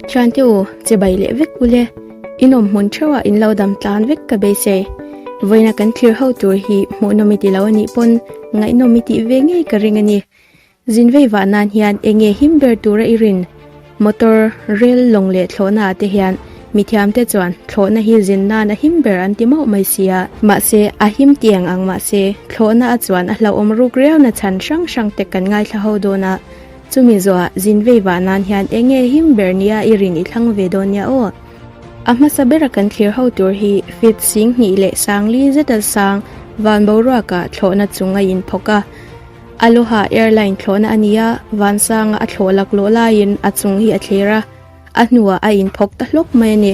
Thiante u, che bai leh vek u le, i nawm hmun theuhah in lo dam tlan vek ka beise. Vawiina kan thlir ho tur hi hmuh nawm i ti lo a nih pawn, ngaihnawm i tih ve ngei ka ring a ni. Zin vei vah nan hian enge him ber tura i rin? Motor, rail, lawng leh thlawhna ah te hian mi thiamte chuan thlawhna hi zin nan a him ber an ti mauh mai sia. Mahse, a him ti ang ang mahse, thlawhna a chuan a hlauhawm ruk riau na chhan hrang hrang te kan ngaithla ho dawn a. Chumi zawhah zin vei vah nan hian eng nge him ber nia i rin i thlang ve dawn nia aw. A hmasa bera kan thlir ho tur hi Fifth sing hnih leh Sangli zeta sang van boruaka thlawhna chung a in phawk a. Aloha Airline thlawhna a nia, vansanga a thlawh laklawh laiin a chung hi a thlir a. A hnuah a inphawk ta hlawk mai a ni.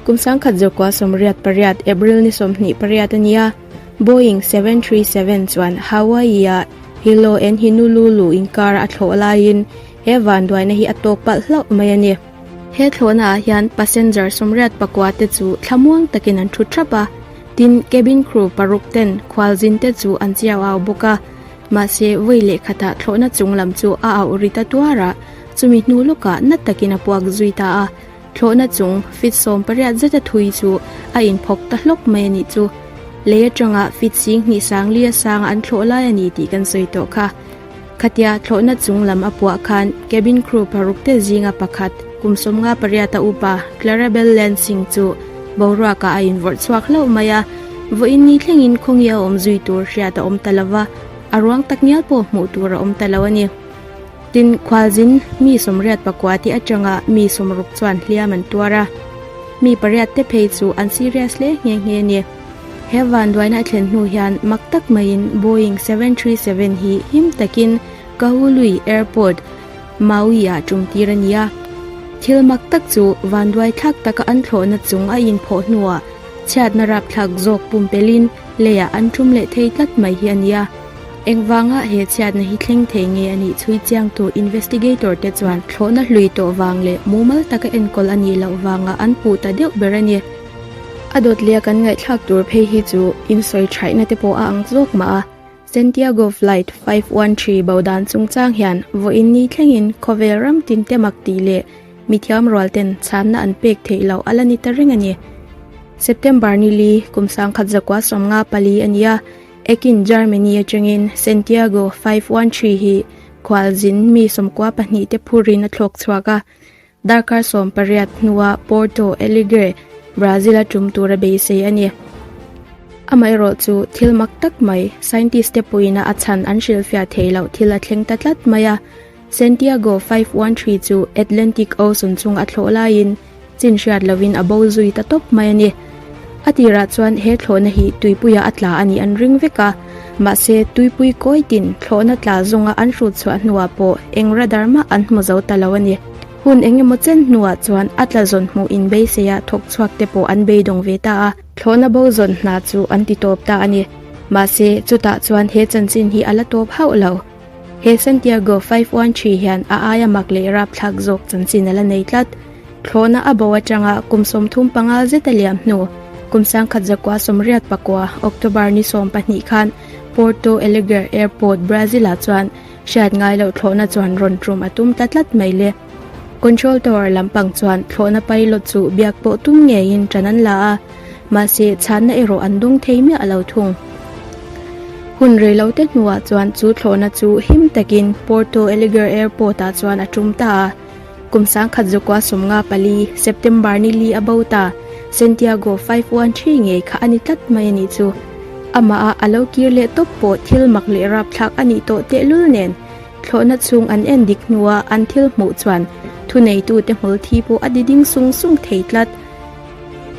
Kum sangkhat zawrhkua sawmriat pariat, April ni sawmhnih pariat a nia, Boeing seven three seven chuan Hawaii-a Hilo en Hinululu inkara a thlawh laiin he vanduaina hi a tawk palh hlauh mai a ni. He thlawhnaah hian passenger sawmriat pakua te chu thlamuang takin an thu thap a, tin cabin crew paruk ten khualzin te chu an chiau au bawk a. Mahse, vawi leh khatah thlawhna chung lam chu a auh ri ta tuar a, chumi hnu lawkah nat takin a puak zui ta a. Thlawhna chung fit sawm pariat zeta thui chu a inphawk ta hlawk mai a nih chu. Lei atanga fit sing hnih sangli asanga an thlawh lai a ni tih kan sawi tawh kha. Khatia thlawhna chung lam a puah khan cabin crew paruk te zinga pakhat, Kum sawmnga pariata upa Clarabel Lansing chu boruakah a invawrh chhuak hlauh mai a, vawiin ni thlengin khawngi a awm zui tur hriat a awm ta lo va, a ruang tak ngial pawh hmuh tur a awm ta lo a ni. Tin, khualzin mi sawmriat pakua te atanga mi sawm ruk chuan hliam an tuar a, mi pariat te phei chu an serious hle nghe nghe a ni. He vanduaina a thlen hnu hian mak tak maiin Boeing seven three seven hi him takin Kahului Airport, Maui-ah ṭumtir a ni a, thil mak tak chu vanduai thlak taka an thlawhna chung a inphawh hnuah chhiatna rapthlak zawk pumpelhin leiah an ṭum leh thei tlat mai hi a ni a. Engvanga he chhiatna hi thleng thei nge a nih chhui chiang tu investigator te chuan thlawhna hlui tawh vang leh mumal taka enkawl a nih loh vangah an puh ta deuh ber a ni. A dawt leh a kan ngaihthlak tur phei hi chu insawi thaihna te pawh a ang zawk mah a, Santiago Flight five one three bo dan chungchang hian vawiin ni thlengin khawvel ram tinte mak tih leh mithiam rualten chhâmna an pêk theih loh a la ni ta reng a ni. September ni li kum sangkhat zakua sawmnga pali a ni a, ekin Germany aṭangin Santiago five one three hi khualzin mi sawmkua pahnihte phurin a thlawk chhuak a, Darkar sawm pariat hnua Porto Alegre, Brazil-a tum tura beisei a ni. Amaherawh chu, thil mak tak mai, scientist-te pawhin a chhan an hrilhfiah theih loh thil a thleng ta tlat mai a. Santiago five one three chu Atlantic Ocean chunga thlawh laiin chin hriat loin a bo zui ta tawp mai a ni. A tirah chuan he thlawhna hi tuipuia a tla a nih an ring vek a, mahse tuipui kawitin thlawhna tla zawnga an hrut chhuah hnuah pawh eng radar mah an hmu zo ta lo a ni. Hun eng emaw chen hnuah chuan a tla zawn hmuh in beiseia thawk chhuak te pawh an beidawng ve ta a, thlawhna bo zawn hna chu an ti tawp ta a ni, mahse chutah chuan he chanchin hi a la tawp hauh lo. He Santiago five one three hian a aia mak leh rapthlak zawk chanchin a la nei tlat. Thlawhna a bo atanga kum sawmthum panga zeta liam hnu, kum sangkhat zakua sawmriat pakua, October ni sawm pahnih khan Porto Alegre Airport, Brazil-ah chuan hriat ngai loh thlawhna chuan rawn tum a tum ta tlat mai le. Control tower lampang chuan thlawhna pilot chu biak pawh tum ngeiin tan an la a, mahse chhanna erawh an dawng thei miah lo thung. Hun rei lo te hnuah chuan chu thlawhna chu him takin Porto Alegre Airport ah chuan a tum ta a. Kum sangkhat Zokua sawmnga pali, September ni li a bo ta, Santiago five one three ngei kha a ni tlat mai a nih chu. Amaha a lo kir leh tawp pawh thil mak leh rapthlak a nih tawh tehlul nen. Thlawhna chhung an en dik hnua an thil hmuh chuan thuneitute hmulthi pawh a diding sung sung thei tlat.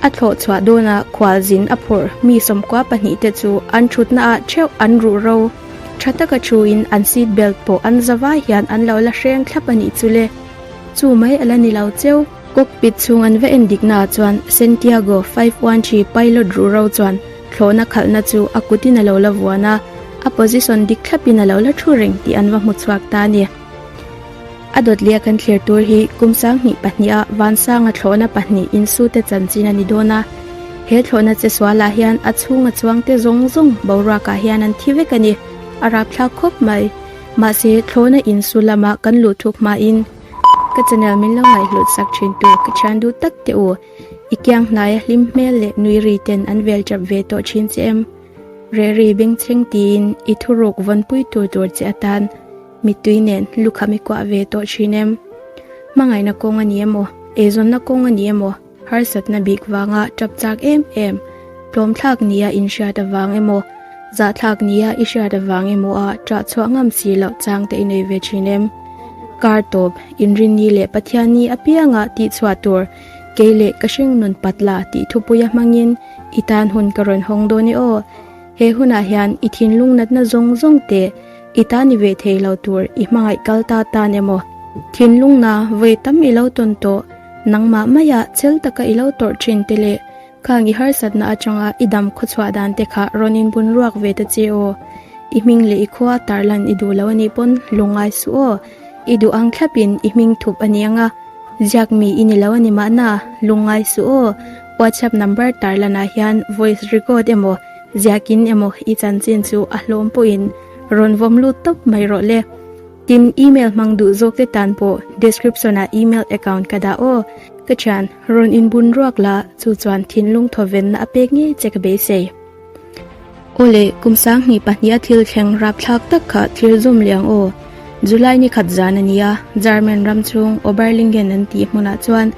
A thlawh chhuah dawna khual zin a phurh mi sawmkua pahnihte chu an thutna ah theuh an ruh ro. Tha taka thuin an seat belt pawh an za vai hian an lo la hreng thlap a nih chule. Chu mai a la ni lo cheu. Cockpit chhung an va en dik naah chuan Santiago five one three pilot ruhro chuan thlawhna khalhna chu a kutin a lo la vuan a, a position dik thlapin a lo la thu reng tih an va hmu chhuak ta a ni. A dawtliah kan thlir tur hi kum sang hnih pahnih a van sanga thlawhna pahnih insute chanchin a ni dawn a, he thlawhna che sualah hian a chhunga chuangte zawng zawng boruakah hian an thi vek a ni, a rapthlak khawp mai. Mahse, thlawhna insu lama kan luh thuk hmain, Ka channel min lo ngaihluhsak thintu ka thian duh tak teh u, i kiang hnaia hlim hmel leh nui ri ten an vel tap ve tawh thin che em? Reh ri beng thleng tiin i thuruk vawn pui tur tur che atan mittui nen lukham i kuah ve tawh thin em? Hmangaihna kawng a ni emaw? Eizawnna kawng a ni emaw? Harsatna bik vanga tap chak em em, tlawmthlak nia inhriat avang emaw, zahthlak nia i hriat avang emaw a ṭah chhuah ngam si loh chang te i nei ve ṭhin em? Kar tawp, Inrinni leh Pathianni apianga tih chhuah tur kei leh ka hring nunpat la tih thupuia hmangin i tan hun ka rawn hawng dawn e aw. He hunah hian i thinlung natna zawng zawng te, I ta ni ve thei lo tur i hmangaih kal ta tan emaw? Thinlung na vawi tam i lo tawn tawh. Nangmah mai a chel taka i lo tawrh thin te leh khang i harsatna atanga i dam khaw chhuah dan te kha rawn inbun ruak ve ta che aw. I hming leh i khua tarlan i duh loh anih pawn hlu ngai suh aw. I duh ang thlap in i hming thup a ni ang a. Ziak mi i ni lo ani mahna hlu ngai suh aw. Whatsapp number tarlan ah hian voice record emaw. Ziakin emaw i chanchin chu a hlawm pawhin rawn vawm lut tawp mai rawh le. Tin, email hmang duh zawk te tan pawh description ah email account ka dah aw. Ka thian, rawn inbun ruak la, chu chuan thinlung thawvenna a pek ngei che ka beisei. Aw le, kum sangni pahniha thil thleng rapthlak tak kha thlir zawm leh ang aw. July ni khat zan a ni a, German ram chhung Oberlingen an tih hmunah chuan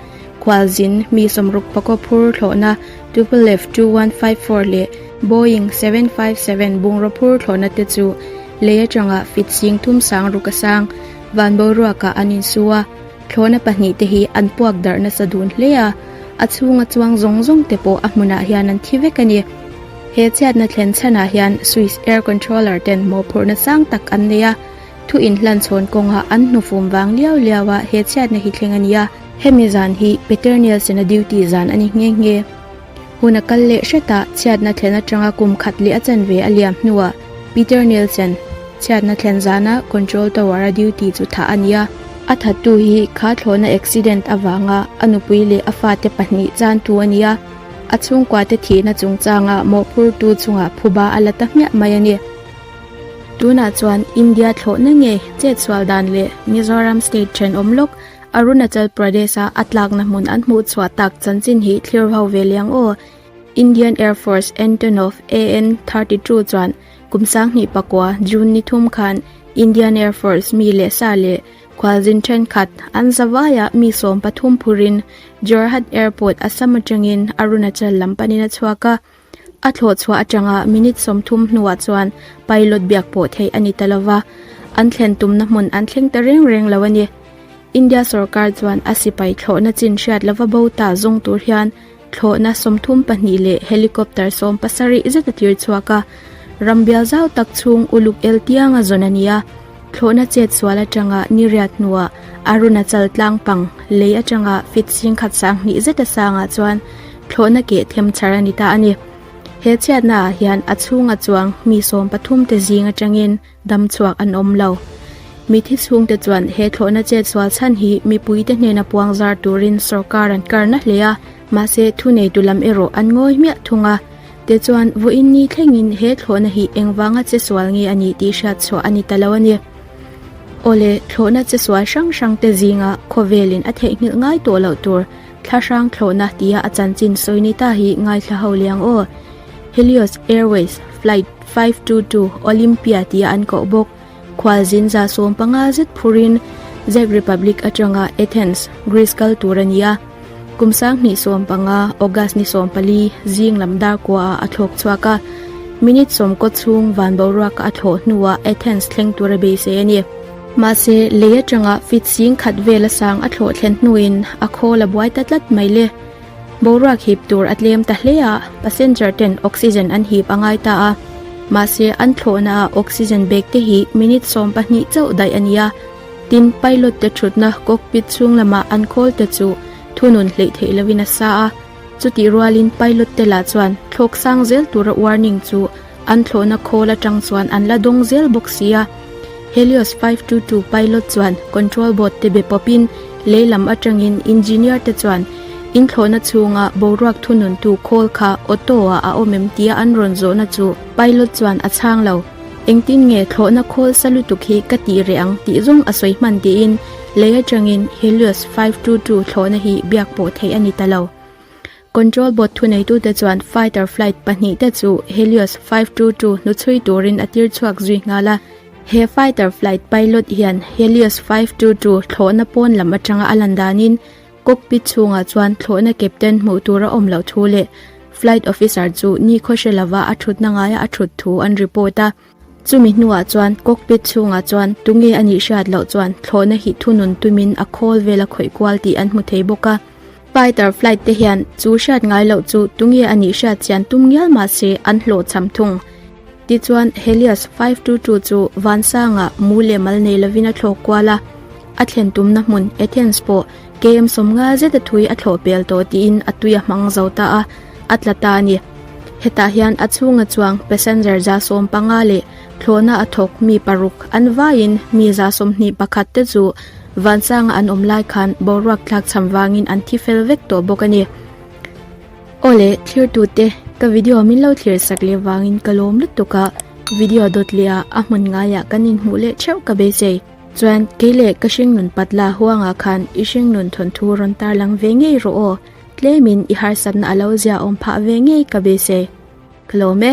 khualzin mi sawmruk pakua phur thlawhna, Tupolev two one five four leh Boeing seven five seven bungraw phur thlawhna te chu lei atangah fit sing thum sang ruk a sang van boruakah an in su a, thlawhna pahnih te hi an puak darh nasa dun hle a, a chhunga chuang zawng zawng te pawh a hmunah hian an thi vek a ni. He chhiatna thlen chhanah hian Swiss Air Controller ten mawhphurhna sang tak an nei a, thu inhlan chhawn kawngah an hnufum vang liau liau a he chhiatna hi thleng a ni a. Hemi zan hi Peternial sena duty zan a ni nghe nghe. Hun a kal leh hret a, chhiatna thlen atanga kum khat leh a chan ve a liam hnuah Peternial sen, chhiatna thlen zana Control Tower a duty chu thah a ni a. A thattu hi kha thlawhna accident avanga a nupui leh a fate pahnih chan thu a ni a, a chhungkuate thihna chungchanga mawhphurtu chunga phuba a la ta hmiah mai a ni. Tunah chuan India thlawhna nge chetsual dan leh Mizoram state thenawm lawk Arunachal Pradesh-a a tlakna hmun an hmuh chhuah tak chanchin hi thlir ho ve liang aw. Indian Air Force Antonov AN-32 chuan kum sanghnih pakua, June ni thum khan Indian Air Force mi leh sa leh khualzin thenkhat an zavaiah mi sawm pathum phurin Jorhat Airport Assam atangin Arunachal lam panin a chhuak a. A thlawhchhuah atanga minute sawmthum hnuah chuan pilot biak pawh theih a ni ta lova, an thlen tumna hmun an thleng ta reng reng lo a ni. India sorkar chuan a sipai thlawhna chin hriat lova bo ta zawng tur hian thlawhna sawmthum pahnih leh helicopter sawm pasarih zet a tirchhuak a, ram bial zau tak chhung uluk el tianga zawn a ni a. Thlawhna chet sual atanga niriat hnuah Arunachal tlangpang lei atanga fitsing khat sang hnih zeta sangah chuan thlawhna keh them chhar a ni ta a ni. He chhiatnaah hian a chhunga chuang mi sawm pathumte zing atangin dam chhuak an awm lo. Mithi chhungte chuan he thlawhna chet sual chhan hi mipuite hnena puang zar turin sorkar an karna hle a, Mahse thu nei tu lam erawh an ngawi hmiah thung a, te chuan vawiin ni thlengin he thlawhna hi engvanga che sual nge a nih tih hriat chhuah a ni ta lo a ni. Awle, thlawhna che sual hrang hrangte zinga khawvelin a theihnghilh ngai tawh loh tur thlahrang thlawhna tia a chanchin sawi ni ta hi ngaithla ho liang aw. Helios Airways flight five two two Olympia tia an koh bawk. Khual zin za sawm panga zet phur in Czech Republic atanga Athens, Greece kal tur a ni a. Kum sang hnih sawm panga, August ni sawm pali, zing lam dar kuaah a thlawk chhuak a. Minute sawmkaw chhung van boruaka a thlawh hnuah Athens thleng tur a beisei a ni. Mahse, lei atanga fit zing khat vel a sang a thlawh thlen hnuin a khawl a buai ta tlat mai le. Boruak hip tur a tlem ta hle a, passenger ten oxygen an hip a ngai ta a. Mahse, an thlawhna ah oxygen bag te hi minute sawm pahnih chauh daih a ni a. Tin, pilot te thutna cockpit chhung lamah an call te chu thunun hleih theih lovin a sa a. Chutih rualin pilot te lah chuan thlawk sang zel tura warning chu An thlawhna khawl atang chuan an la dawng zel bawk si a, Helios five two two pilot chuan control board te be pawpin lei lam atangin engineer te chuan inthlawhna chhunga boruak thununtu khawl kha auto-ah a awm em tia an rawn zawhna chu pilot chuan a chhang lo, engtin nge thlawhna khawl sa lutuk hi ka tih reh ang tih zawng a sawi hman tiin lei atangin Helios five two two thlawhna hi biak pawh theih a ni ta lo. Control board thuneitute chuan fighter flight pahnih te chu Helios five two two hnuchhui turin a tir chhuak zui nghal a. He fighter flight pilot hian Helios five two two thlawhna pawn lam atanga a lan danin cockpit chhungah chuan thlawhna captain hmuh tur a awm loh thu leh flight officer chu nikhaw hre lova a thutna ngaia a thut thu an report a. Chumi hnuah chuan cockpit chhungah chuan tunge a nih hriat loh chuan thlawhna hi thunun tumin a khawl vel a khawih kual tih an hmu thei bawk a. Fighter flight te hian chu hriat ngai loh chu tunge a nih hriat chian tum ngial mah se an hlawh cham thung. Tichuan Helios five two two chu vansanga mu leh mal nei lovin a thlawh kual a, a thlen tumna hmun, Athens, pawh Kem sawm ngal zeta thui a thlawh pel tawh tiin a tui a hmang zo ta a, a tla ta a ni. Hetah hian a chhunga chuang passenger za sawm panga leh thlawhna a thawk mi paruk an vaiin mi za sawmhnih pakhat te chu Vansanga an awm lai khan boruak tlak chham vangin an thi fel vek tawh bawk a ni. Aw le, thirtute, ka video min lo thlir sak leh vangin ka lawm lutuk a, video dawt leh ah a hmun ngaiah kan inhmuh leh theuh ka beisei. Chuan, Kei le, ka hringnun pat la huangah khan i hringnun thawn thu rawn tarlang ve ngei rawh aw, tlemin i harsatna a lo ziahawm phah ve ngei ka base. Ka lawm e.